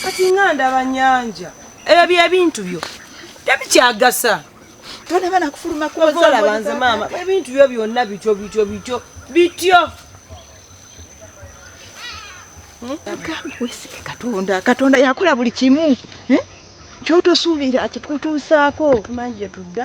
kati nga ndaba nyanja ebyo byebintu byo tebikyagasa tolaba nakufuluma kwozalabanze maama ebintu byo byonna bityo bityo bityo bityo wesige katonda katonda yakola buli kimu eh? kyotosuubira kikutuusaako tumanyi gyetudda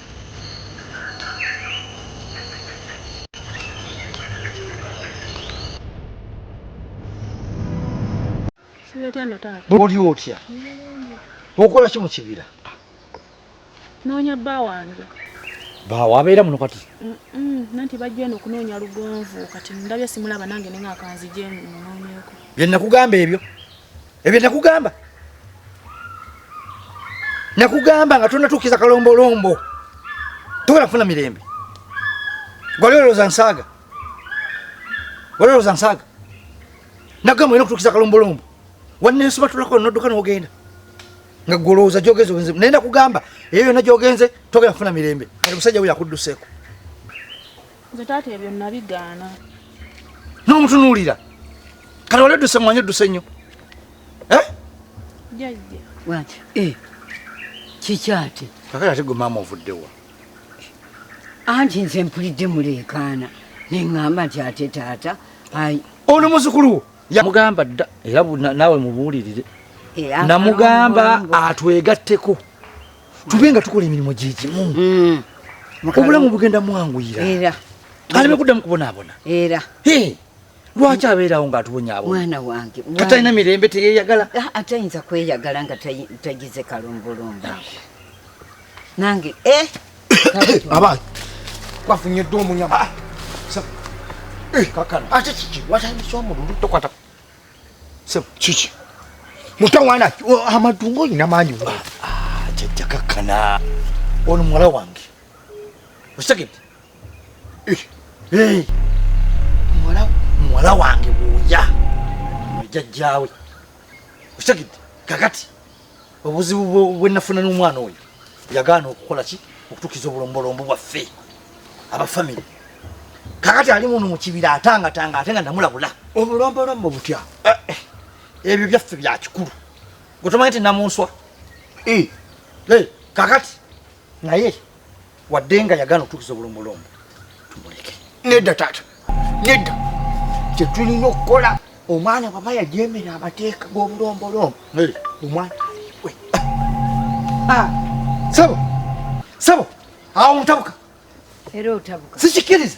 oli otya okola ki mu kibira noonya bba wange baawo abeera muno kati nanti bajja eno okunoonya lugonvu kati ndabye simulaba nange nenga kanzije munoonyeko bye nakugamba ebyo ebyo nakugamba nakugamba nga tonatuukiza kalombolombo tosobola kufuna mirembe gwali olowooza nsaaga wali olowooza nsaaga nagamba olina okutuukiza kalombolombo wanensobatulako nodduka nogenda nga gwe olowooza gyogenze ogenze naye nakugamba eyo yona gyogenze togenda kufuna mirembe kati musajja we yakudduseeko Nze taata ebyo nabigaana. N'omutunuulira kati wali odduse mwanyi odduse nnyo eh? jajja wati eh, kikyate kakati ate gwe maama ovuddewa anti nze mpulidde muleekaana neŋŋamba nti ate taata ayi ono muzukulu wo yamugamba dda era naawe mubuulirire eh, namugamba atwegatteko tube nga tukola emirimu gyegimu mm. obulamu bugenda mwanguyira aleme kuddamu kubonaabona era lwaki abeerawo ngaatubonyaabo mwana wange katalina mirembe teyeyagala ah, atayinza kweyagala nga tagize kalombolombo nange eh, abaana bafunyedde omunyama ah, eh, kakano ate kiki watandisa omululu tokwata Sebo. Kiki? Mutawana amadungo ina manyi wa. Ah, jajja kakana. Ono mwala wange. Osakit. Eh. Hey. Mwala mwala wange buya. Jajjawe. Osakit. Kakati. obuzibu bwenafuna n'omwana oyo yagaana okukola ki okutukiza obulombolombo bwaffe abafamire kakati ali muno mu kibira atangatanga ate nga namulabula obulombolombo butya eh, eh, ebyo byaffe bya kikulu gwe tomanyi nti namunswa eh. kakati naye wadde nga yagana otuukiza obulombo lombo tumuleke nedda taata nedda kyetulina okukola omwana baba yajemera amateeka g'obulombolombo omwana aliwe ah, sabo sabo awo mutabuka era otabuka sikikiriza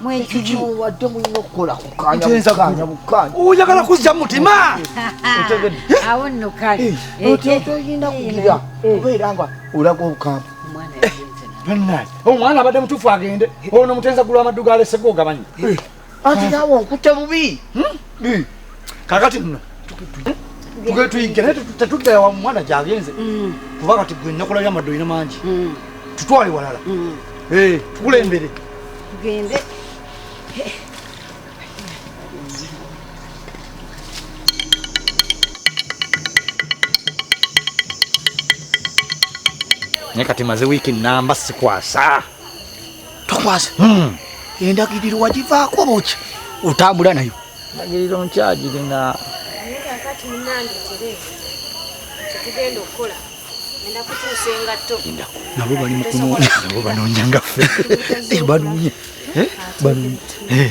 mwekigiwadde mulina okukola kukanyabukanya bukanya oyagala kuzza mutima otegedde awo nno kale eh, eh, eh, otoyinda kugira obeera nga olaga obukamba omwana abadde mutuufu agende ono mutenza gulwa amaddu galesegwa ogabanyi anti nawe onkutte bubi hmm? kakati nno tuyige naye tetudda wa mwana gyagenze mm. kuba kati gwe nakula byamadde olina mangi mm. tutwale walala mm. eh, tukulembere tugende naye kati maze wiiki namba sikwasa tokwasa hmm. endagiriro wagivaako boki otambula nayo endagiriro nkyagirina nabo bali mukunoonya nabo banoonya ngaffe eh, banoonya eh, banoonya eh.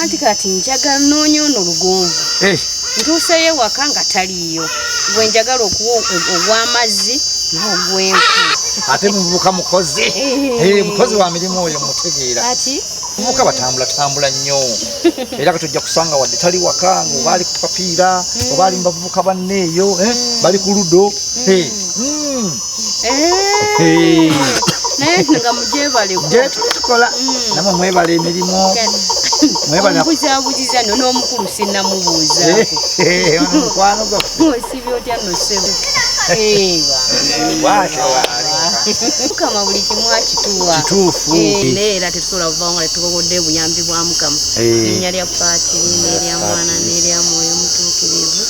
anti kati njagala noonya ono lugonvu eh. ntuuseyo ewaka nga taliiyo gwe njagala okuwa ogw'amazzi n'ogw'enku ate muvubuka mukozi eh. Eh, mukozi wa mirimu oyo mutegeera muka batambula tambula nnyo era kati ojja kusanga wadde tali waka nga obaali ku papiira obaali mu bavubuka banneeyo eh, bali ku ludo hmm. Hmm. Eh. naye nga mujebalektukola mm. namwe mwebala emirimu mwebalbuzabuziza no n'omukulu sinamubuuza eh, mukwano gwafesibi otya nosebo mukama buli kimu akituwa naye era tetusobola kuvawo nga tetukogodde obuyambi bwa mukama linnya lya paati n'erya mwana n'erya mwoyo mutuukirivu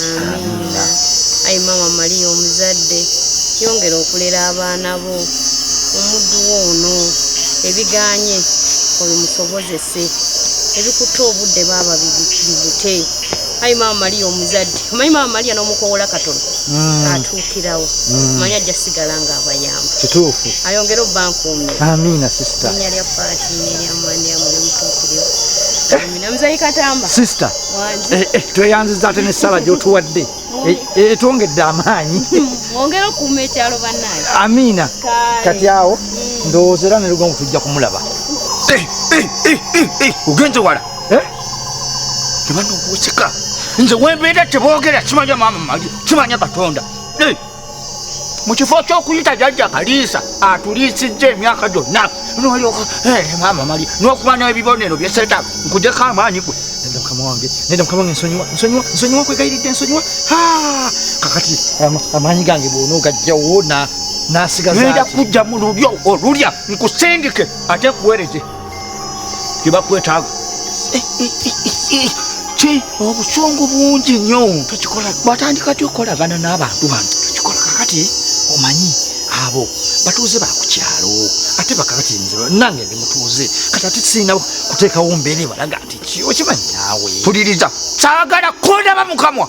amin allah ayi maama maliya omuzadde yongera okulera abaana bo omuddu wo ono ebiganye obimusobozese ebikutte obudde baaba bibute ayi maama maliya omuzadde omanyi maama maliya n'omukowola katono mm. atuukirawo mm. manyi ajja sigala nga abayamba kituufu ayongere obbankuumye amiina sisita nya lya faati neryamanyamulimutuukiriwo sisita eh, eh, tweyanziza ate nesala gyotuwadde etwongedde eh, amaanyi amiina kati awo mm. ndowooza era nelugongo tujja kumulaba ogenze wala tebanokuusika nze wembeera tebogera kimanya maama mali kimanya katonda mu kifo ky'okuyita jajja kaliisa atuliisizza emyaka gyonna nolyoka eh, maama mali n'okuba n'ebibonero byeseta nkujeko amaanyi gwe neda mukama wange neda mukama wange nsonyiwa nsonyiwa nsonyiwa nkwegayiridde nsonyiwa kakati amaanyi gange bwona ogajjawo nasigaza neda kujja mu lulyo olulya nkusindike ate nkuwereze kyebakwetaaga eh, eh, eh, ki obusungu bungi nnyo tokikola batandika ti okolagana n'abantu bano tokikola kakati omanyi abo batuuze bakukyalo ate bakakati nze nange ndi mutuuze kati ate sirina kuteekawo mbeera ebalaga nti ki okimanyi naawe puliriza saagala kondaba mukamwa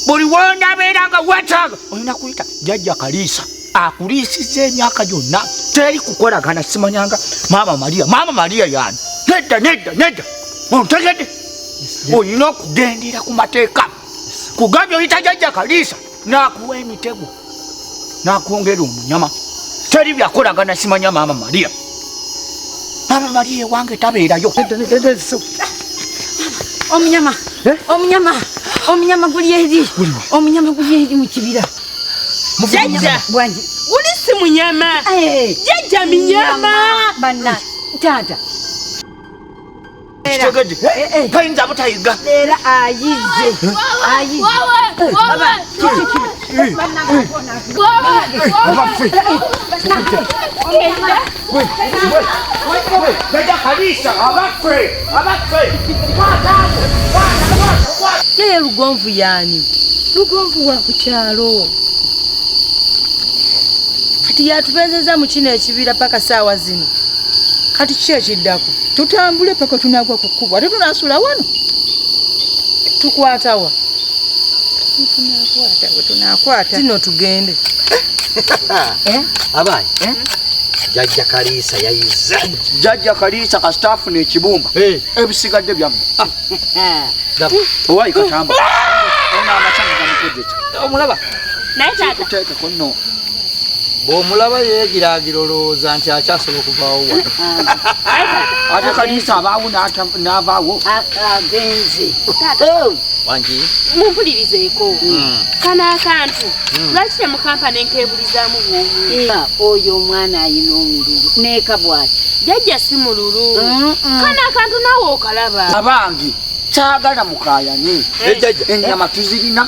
buli wondabeera nga wetaaga olina kuyita jajja kaliisa akuliisiza emyaka gyonna teri kukolagana simanyanga maama maria maama maria yani nedda nedda nedda ontegedde olina okugendera ku mateeka kugambye oyita jajja kaliisa nakuwa emitego nakwongera omunyama teri byakolagana simanya maama maria maama maria ewange tabeerayo omunyama eh? omunyama omunyama guli eri omunyama guli eri mu kibira jajja bwangi guli si munyama eh. jajja minyama banna taata kitegedde eh, eh, eh. tayinza butayiga era ayize yeye lugonvu yani lugonvu wa ku kyalo kati yatubenzeza mu kino ekibira paka saawa zino kati kiki ekiddako tutambule paka tunagwa ku kkubo ate tunasula wano tukwatawa tunakwatawetinakwatazino tugende eh? abaani eh? jajja kaliisa yayiza jajja kaliisa kasitaafu nekibumba eh. ebisigadde byamu ah. owayi katamba ah. omulaba naye taata kuno bwomulaba yegiragira olowooza nti akyasobola okuvaawo wano ah. ate kanisa abaawo n'avaawo ah, ah, agenze oh. wangi mumpulirizeeko hmm. kano akantu hmm. lwaki temukampa nenkebulizamu bwomu oyo omwana ayina omululu neeka bwati jajja si mululu kano akantu naawe okalaba abange kyagala mukayane eh. enyama tuzirina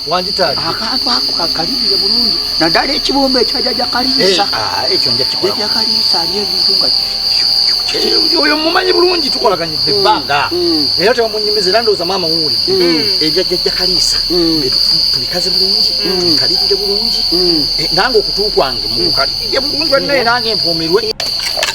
wanditadde akantu ako kakalirire bulungi naddala ekibumba ekyajaja kaliisa eh, ah, ekyo njakikola kaliisa ali ebintu nga Eh, oyo mumanyi bulungi tukolaganyidde mm. ebbanga mm. era tebamunyumiza era ndowooza maama wuwulidde mm. ebyajjajja kaliisa tubikaze bulungi tubikalirire bulungi eh, nange okutu kwange mukukalirire bulungi bannaye nange mpumirwe